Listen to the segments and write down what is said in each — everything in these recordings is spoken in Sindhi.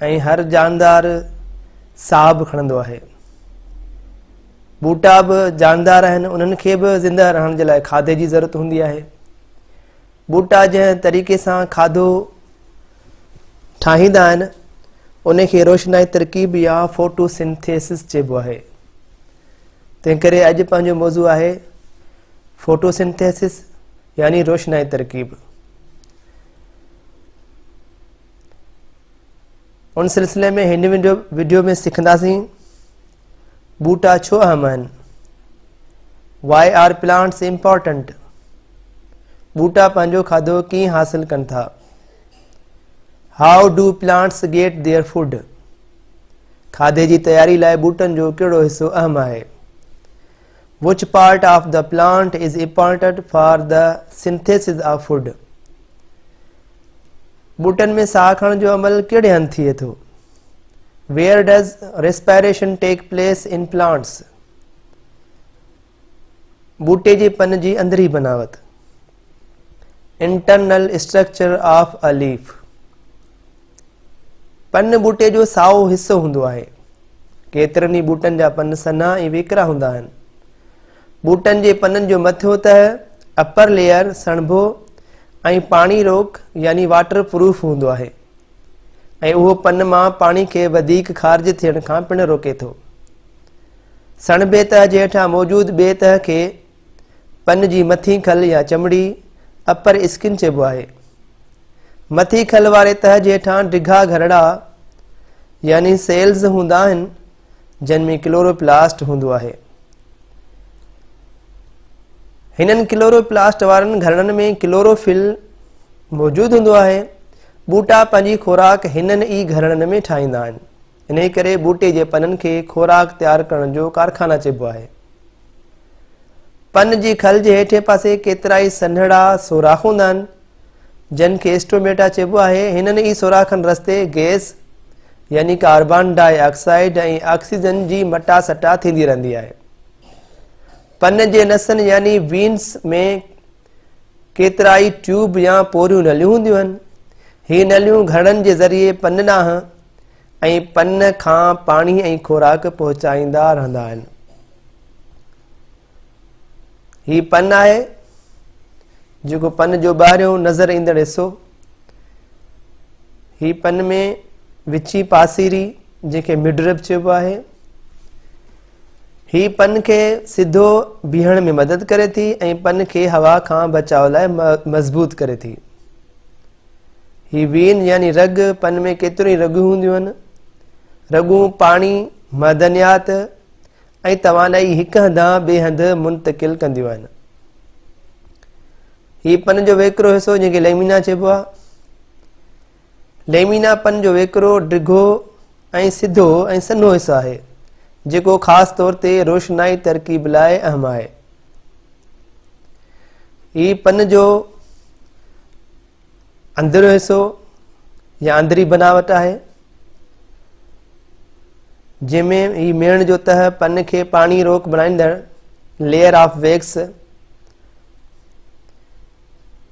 ۽ هر جاندار ساهه به کڻندو آهي. ٻوٽا به جاندار آهن، انهن کي به زنده رهڻ جي لاء کاڌي جي ضرورت هوندي آهي. ٻوٽا جنهن طريقي سان کاڌو ٺاهيندا آهن، ان کي روشنائي ترڪيب يا فوٽو سنٿيسس چئبو آهي. تنهن ڪري اڄ پنهنجو موضوع آهي فوٽو سنٿيسس يعني روشنائي ترڪيب. ان سلسلي ۾ هن وڊيو ۾ سکنداسين ٻوٽا ڇو اهم آهن واء آر پلانٽس امپورٽنٽ ٻوٽا پنهنجو کاڌو ڪيئن حاصل ڪن ٿا how do plants get their food کاڌي جي تياري لاء ٻوٽن جو ڪهڙو حصو اهم آهي which part of the plant is important for the synthesis of food ٻوٽن ۾ ساهه کڻڻ جو عمل ڪهڙي هنڌ ٿئي ٿو where does respiration take place in plants ٻوٽي جي پن جي اندري بناوت internal structure of a leaf پن ٻوٽي جو سائو حصو هوندو آهي ڪيترن ئي ٻوٽن جا پن سنها ۽ ويڪرا هوندا آهن ٻوٽن جي پنن جو مٿيو تهه اپر ليئر سڻڀو ۽ پاڻي روڪ يعني واٽر پروف هوندو آهي ۽ اهو پن مان پاڻي کي وڌيڪ خارج ٿيڻ کان پڻ روڪي ٿو سڻڀي تهه جي هيٺان موجود ٻي تهه کي پن جي مٿين کل يا چمڙي، Upper Skin، چئبو آهي. مٿين کل واري تهه جي هيٺان ڊگها گهرڙا يعني سيلز هوندا آهن جن ۾ ڪلوروپلاسٽ هوندو آهي. هنن ڪلوروپلاسٽ وارن گهرڙن ۾ ڪلوروفل موجود هوندو آهي. ٻوٽا پنهنجي خوراڪ هنن ئي گهرڙن ۾ ٺاهيندا آهن. انهيء ڪري ٻوٽي جي پنن کي خوراڪ تيار ڪرڻ جو ڪارخانه چئبو آهي. پن جي کل جي هيٺين پاسي ڪيترائي سنهڙا سوراخ هوندا آهن، جن کي اسٽوميٽا چئبو آهي. هنن ئي سوراخن رستي گئس يعني ڪاربان ڊاء آڪسائيڊ ۽ آڪسيجن جي مٽا سٽا ٿيندي رهندي آهي. پن جي نسن يعني وينس ۾ ڪيترائي ٽيوب يا پوريون نليون هونديون آهن. هي نليون گهڙن جي ذريعي پن ڏانهن ۽ پن کان پاڻي ۽ خوراڪ پهچائيندا رهندا آهن. هي پن آهي جيڪو پن جو ٻاهريون نظر ايندڙ حصو هي پن ۾ وچي پاسيري جنهن کي مڊرب چئبو آهي هي پن کي سڌو بيهڻ ۾ مدد ڪري ٿي ۽ پن کي هوا کان بچاء لاء مضبوط ڪري ٿي. هي وين يعني رڳ پن ۾ ڪيتريون ئي رڳون هونديون آهن. رڳون پاڻي، معدنيات ۽ توانائي هڪ هنڌان ٻئي هنڌ منتقل ڪنديون آهن. هي پن جو ويڪرو حصو جنهن کي ليمينا چئبو آهي. ليمينا پن جو ويڪرو، ڊگهو ۽ سڌو ۽ سنهو حصو آهي، جيڪو خاص طور تي روشنائي ترڪيب لاء اهم آهي. هي پن جو اندريون حصو يا اندري بناوٽ آهي جنهن ۾ هي ميڻ جو تهه پن کي پاڻي روڪ بڻائيندڙ layer of wax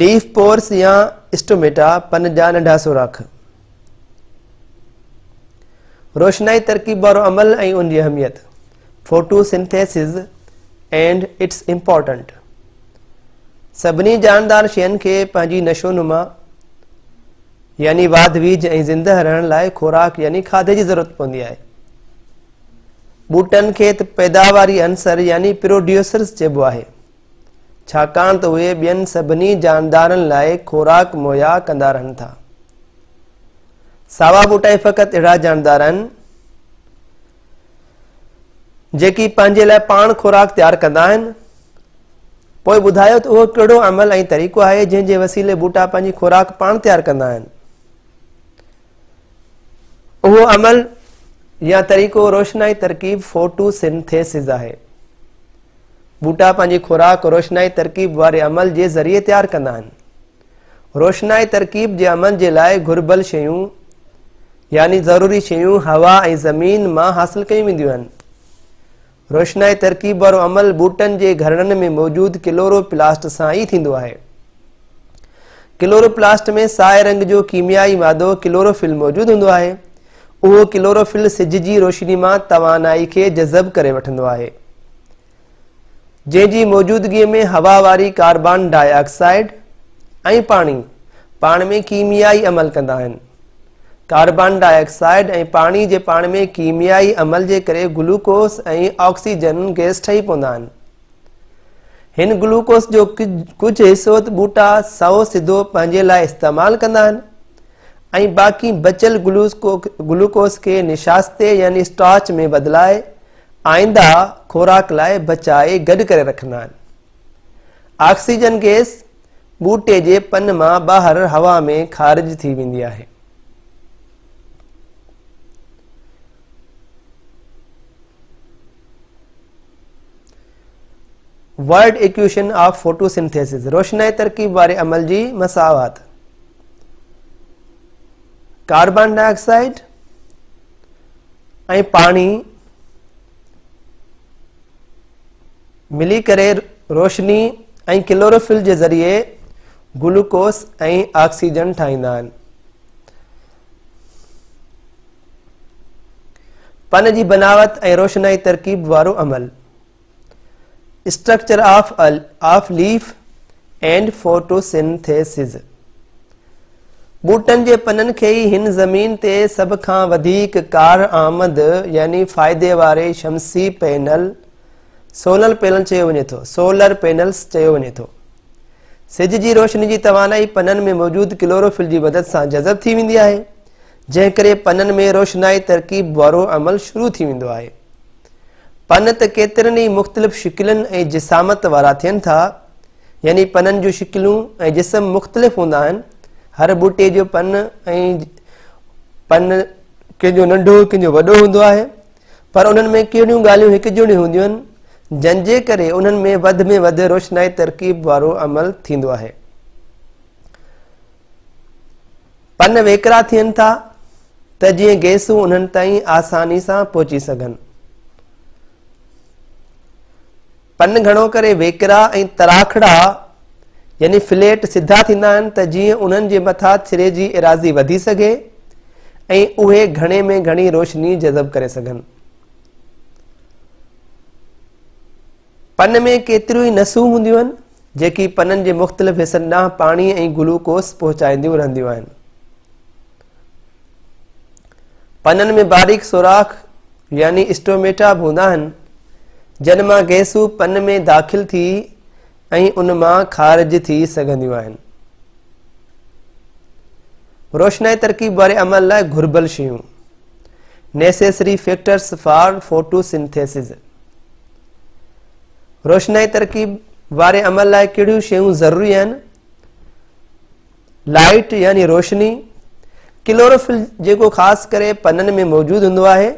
leaf pores يا اسٽوميٽا، پن جا ننڍا سوراخ. روشنائي ترڪيب وارو عمل ۽ ان جي اهميت photosynthesis and its importance سڀني جاندار شين کي پنهنجي نشو نما يعني واڌ ويجھ ۽ زنده رهڻ لاء خوراڪ يعني کاڌي جي ضرورت پوندي آهي ٻوٽن کي ته پيداواري عنصر يعني پروڊيوسرز چئبو آهي، ڇاڪاڻ ته اهي ٻين سڀني جاندارن لاء خوراڪ مهيا ڪندا رهن ٿا. ساوا ٻوٽا ئي فقط اهڙا جاندار آهن، جيڪي پنهنجي لاء پاڻ خوراڪ تيار ڪندا آهن. پوء ٻڌايو ته اهو ڪهڙو عمل ۽ طريقو آهي جنهن جي وسيلي ٻوٽا پنهنجي خوراڪ پاڻ تيار ڪندا آهن. اهو عمل يا طريقو روشنائي ترڪيب فوٽو سنٿيسز آهي. ٻوٽا پنهنجي خوراڪ روشنائي ترڪيب واري عمل جي ذريعي تيار ڪندا آهن. روشنائي ترڪيب جي عمل جي لاء گهربل شيون يعني ضروري شيون هوا ۽ زمين مان حاصل ڪيون وينديون آهن. روشنائي ترڪيب وارو عمل ٻوٽن جي گهرڙن ۾ موجود ڪلورو پلاسٽ سان ئي ٿيندو آهي. ڪلورو پلاسٽ ۾ سائي رنگ جو ڪيميائي مادو ڪلورو فل موجود هوندو آهي. اهو ڪلورو فل سج جي روشني مان توانائي کي جذب ڪري وٺندو آهي. جنهن جي موجودگي ۾ هوا واري ڪاربان ڊاء آڪسائيڊ ۽ پاڻي پاڻ ۾ ڪيميائي عمل ڪندا آهن. ڪاربان ڊاء آڪسائيڊ ۽ پاڻي جي پاڻ ۾ ڪيميائي عمل جي ڪري گلوڪوس ۽ آڪسيجن گئس ٺهي پوندا آهن. هن گلوڪوس جو ڪجهه حصو ٻوٽا سئو سڌو پنهنجي لاء استعمال ڪندا آهن ۽ باقي بچيل گلوڪوس کي نشاستي يعني اسٽارچ ۾ بدلائي آئنده خوراڪ لاء بچائي گڏ ڪري رکندا آهن آڪسيجن گئس ٻوٽي جي پن مان ٻاهر هوا ۾ خارج ٿي ويندي آهي. ورڊ ايڪويشن آف فوٽوسنٿيسز روشنائي ترڪيب واري عمل جي مساوات ڪاربان ڊاء آڪسائيڊ ۽ پاڻي ملي ڪري روشني ۽ ڪلوروفل جي ذريعي گلوڪوس ۽ آڪسيجن ٺاهيندا آهن پن جي بناوت ۽ روشنائي ترڪيب وارو عمل structure of leaf and photosynthesis ٻوٽن جي پنن کي ئي هن زمين تي سڀ کان وڌيڪ ڪارآمد يعني فائدي واري شمسي پينل، Solar Panel، چيو وڃي ٿو، Solar Panels، چيو وڃي ٿو. سج جي روشني جي توانائي پنن ۾ موجود ڪلوروفل جي مدد سان جذب ٿي ويندي آهي، جنهن ڪري پنن ۾ روشنائي ترڪيب وارو عمل شروع ٿي ويندو آهي. پن ته ڪيترن ئي مختلف شڪلن ۽ جسامت وارا ٿين ٿا، يعني پنن جون شڪلون ۽ جسم مختلف هوندا آهن. هر ٻوٽي جو پن ۽ پن ڪنهن جو ننڍو ڪنهن جو وڏو هوندو آهي پر انهن ۾ ڪهڙيون ڳالهيون هڪ جهڙيون هونديون آهن جن جي ڪري انهن ۾ وڌ ۾ وڌ روشنائي ترڪيب وارو عمل ٿيندو آهي پن ويڪرا ٿين ٿا ته جيئن گيسون انهن تائين آساني سان پهچي سگهن پن گهڻو ڪري ويڪرا ۽ تراکڙا يعني فليٽ سڌا ٿيندا آهن ته جيئن انهن جي مٿا ڇري جي ايراضي وڌي سگهي ۽ اهي گهڻي ۾ گهڻي روشني جذب ڪري سگهن. پن ۾ ڪيتريون ئي نسون هونديون آهن جيڪي پنن جي مختلف حصن ڏانهن پاڻي ۽ گلوڪوس پهچائينديون رهنديون آهن. پنن ۾ باريڪ سوراخ يعني اسٽوميٽا به هوندا آهن جن مان گئسون پن ۾ داخل ٿي ۽ ان مان خارج ٿي سگهنديون آهن روشنائي ترڪيب واري عمل لاء گهربل شيون necessary factors for photosynthesis روشنائي ترڪيب واري عمل لاء ڪهڙيون شيون ضروري آهن لائيٽ يعني روشني، ڪلوروفل جيڪو خاص ڪري پنن ۾ موجود هوندو آهي،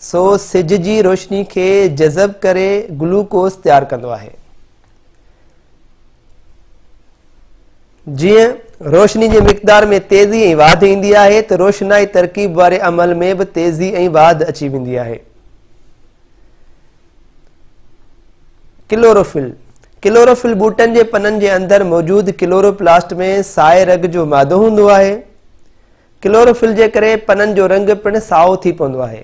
سو سج جي روشني کي جذب ڪري گلوڪوز تيار ڪندو آهي. جيئن روشني جي مقدار ۾ تيزي ۽ واڌ ايندي آهي ته روشنائي ترڪيب واري عمل ۾ به تيزي ۽ واڌ اچي ويندي آهي. ڪلوروفل، ڪلوروفل ٻوٽن جي پنن جي اندر موجود ڪلوروپلاسٽ ۾ سائي رڳ جو مادو هوندو آهي. ڪلوروفل جي ڪري پنن جو رنگ پڻ سائو ٿي پوندو آهي.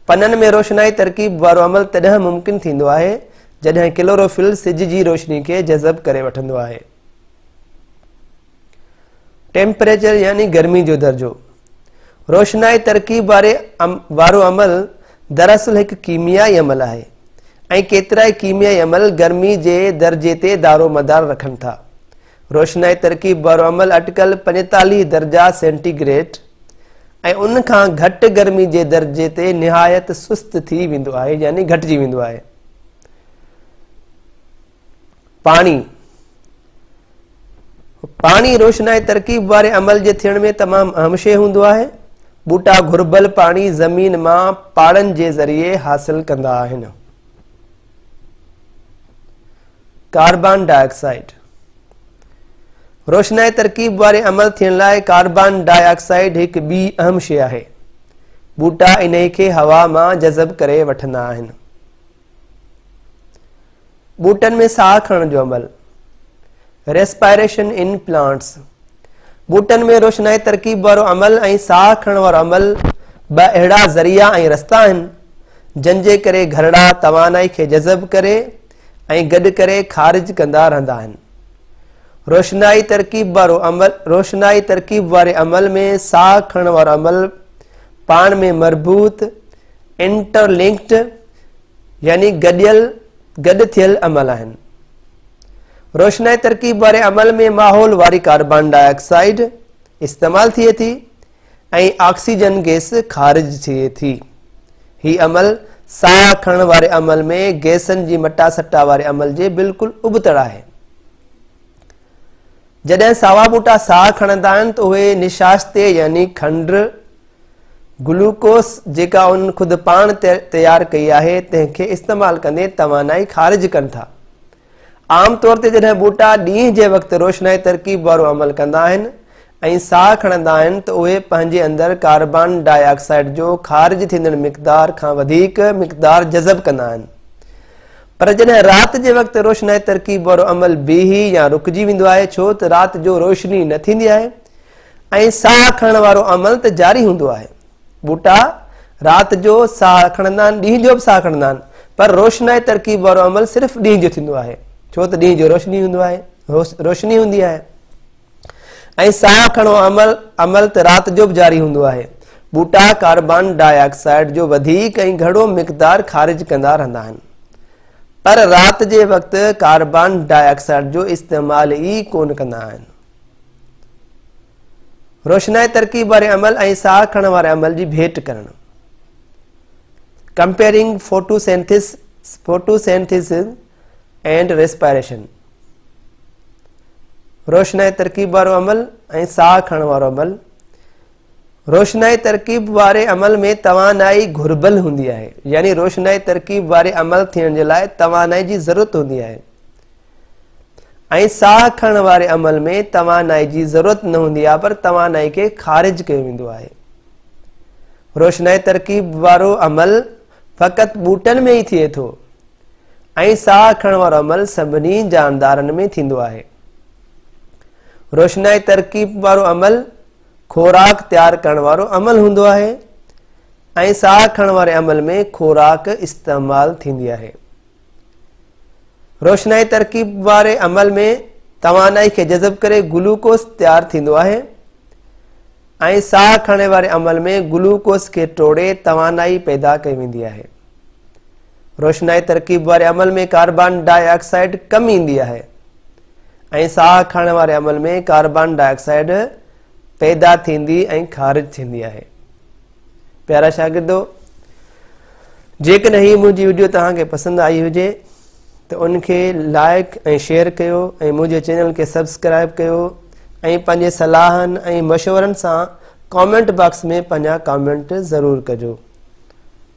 پنن ۾ روشنائي ترڪيب وارو عمل تڏهن ممڪن ٿيندو آهي جڏهن ڪلوروفل سج جي روشني کي جذب ڪري وٺندو آهي. ٽيمپريچر يعني گرمي جو درجو روشنائي ترڪيب واري وارو عمل دراصل هڪ ڪيميائي عمل آهي ۽ ڪيترائي ڪيميائي عمل گرمي جي درجي تي دارو مدار رکن ٿا روشنائي ترڪيب وارو عمل اٽڪل 45 درجا سينٽي گريٽ ۽ ان کان گهٽ گرمي جي درجي تي نهايت سست ٿي ويندو آهي يعني گهٽجي ويندو آهي پاڻي پاڻي روشنائي ترڪيب واري عمل جي ٿيڻ ۾ تمام اهم شيء هوندو آهي ٻوٽا گهربل پاڻي زمين مان پاڙن جي ذريعي حاصل ڪندا آهن ڪاربان ڊاء آڪسائيڊ روشنائي ترڪيب واري عمل ٿيڻ لاء ڪاربان ڊاء آڪسائيڊ هڪ ٻي اهم شيء آهي ٻوٽا انهي کي هوا مان جذب ڪري وٺندا آهن ٻوٽن ۾ ساهه کڻڻ جو عمل ريسپائريشن ان پلانٽس ٻوٽن ۾ روشنائي ترڪيب وارو عمل ۽ ساهه کڻڻ وارو عمل ٻه اهڙا ذريعا ۽ رستا آهن جن جي ڪري گهرڙا توانائي کي جذب ڪري ۽ گڏ ڪري خارج ڪندا رهندا آهن روشنائي ترڪيب وارو عمل روشنائي ترڪيب واري عمل ۾ ساهه کڻڻ وارو عمل پاڻ ۾ مربوط Interlinked، يعني گڏيل، گڏ ٿيل، عمل آهن. روشنائي ترڪيب واري عمل ۾ ماحول واري ڪاربان ڊاء آڪسائيڊ استعمال ٿئي ٿي ۽ آڪسيجن گيس خارج ٿئي ٿي. هي عمل ساهه کڻڻ واري عمل ۾ گيسن جي مٽا سٽا واري عمل جي بلڪل ابتڙ آهي. جڏهن ساوا ٻوٽا ساهه کڻندا آهن ته اهي نشاستي يعني کنڊ گلوڪوس جيڪا انهن خود پاڻ تيار ڪئي آهي تنهن کي استعمال ڪندي توانائي خارج ڪن ٿا. عام طور تي جڏهن ٻوٽا ڏينهن جي وقت روشنائي ترڪيب وارو عمل ڪندا آهن ۽ ساهه کڻندا آهن ته اهي پنهنجي اندر ڪاربان ڊاء آڪسائيڊ جو خارج ٿيندڙ مقدار کان وڌيڪ مقدار جذب ڪندا آهن پر جڏهن رات جي وقت روشنائي ترڪيب وارو عمل بيهي يا رڪجي ويندو آهي ڇو ته رات جو روشني نه ٿيندي آهي ۽ ساهه کڻڻ وارو عمل ته جاري هوندو آهي. ٻوٽا رات جو ساهه کڻندا آهن، ڏينهن جو به ساهه کڻندا آهن، پر روشنائي ترڪيب وارو عمل صرف ڏينهن جو ٿيندو آهي، ڇو ته ڏينهن جو روشني هوندو آهي، روشني هوندي آهي. ۽ ساهه کڻڻ عمل عمل ته رات جو به جاري هوندو آهي. ٻوٽا ڪاربان ڊاء آڪسائيڊ جو وڌيڪ ۽ گهڻو مقدار خارج ڪندا رهندا آهن. پر رات جي وقت ڪاربان ڊاء آڪسائيڊ جو استعمال ئي ڪونه ڪندا آهن. روشنائي ترڪيب واري عمل ۽ ساهه کڻڻ واري عمل جي ڀيٽ ڪرڻ comparing photosynthesis photosynthesis and respiration روشنائي ترڪيب وارو عمل ۽ ساهه کڻڻ وارو عمل روشنائي ترڪيب واري عمل ۾ توانائي گهربل هوندي آهي يعني روشنائي ترڪيب واري عمل ٿيڻ جي لاء توانائي جي ضرورت هوندي آهي ۽ ساهه کڻڻ واري عمل ۾ توانائي جي ضرورت نه هوندي آهي پر توانائي کي خارج ڪيو ويندو آهي روشنائي ترڪيب وارو عمل فقط ٻوٽن ۾ ئي ٿئي ٿو ۽ ساهه کڻڻ وارو عمل سڀني جاندارن ۾ ٿيندو آهي روشنائي ترڪيب وارو عمل خوراڪ تيار ڪرڻ وارو عمل هوندو آهي ۽ ساهه کڻڻ واري عمل ۾ خوراڪ استعمال ٿيندي آهي روشنائي ترڪيب واري عمل ۾ توانائي کي جذب ڪري گلوڪوز تيار ٿيندو آهي ۽ ساهه کڻڻ واري عمل ۾ گلوڪوز کي ٽوڙي توانائي پيدا ڪئي ويندي آهي روشنائي ترڪيب واري عمل ۾ ڪاربان ڊاء آڪسائيڊ ڪم ايندي آهي ۽ ساهه کڻڻ واري عمل ۾ ڪاربان ڊاء آڪسائيڊ پيدا ٿيندي ۽ خارج ٿيندي آهي پيارا شاگردو جيڪڏهن هي منهنجي ويڊيو توهان کي پسند آئي هجي ته ان کي لائق ۽ شيئر ڪيو ۽ منهنجي چينل کي سبسڪرائب ڪيو ۽ پنهنجي صلاحن ۽ مشورن سان ڪامينٽ باڪس ۾ پنهنجا ڪامينٽ ضرور ڪجو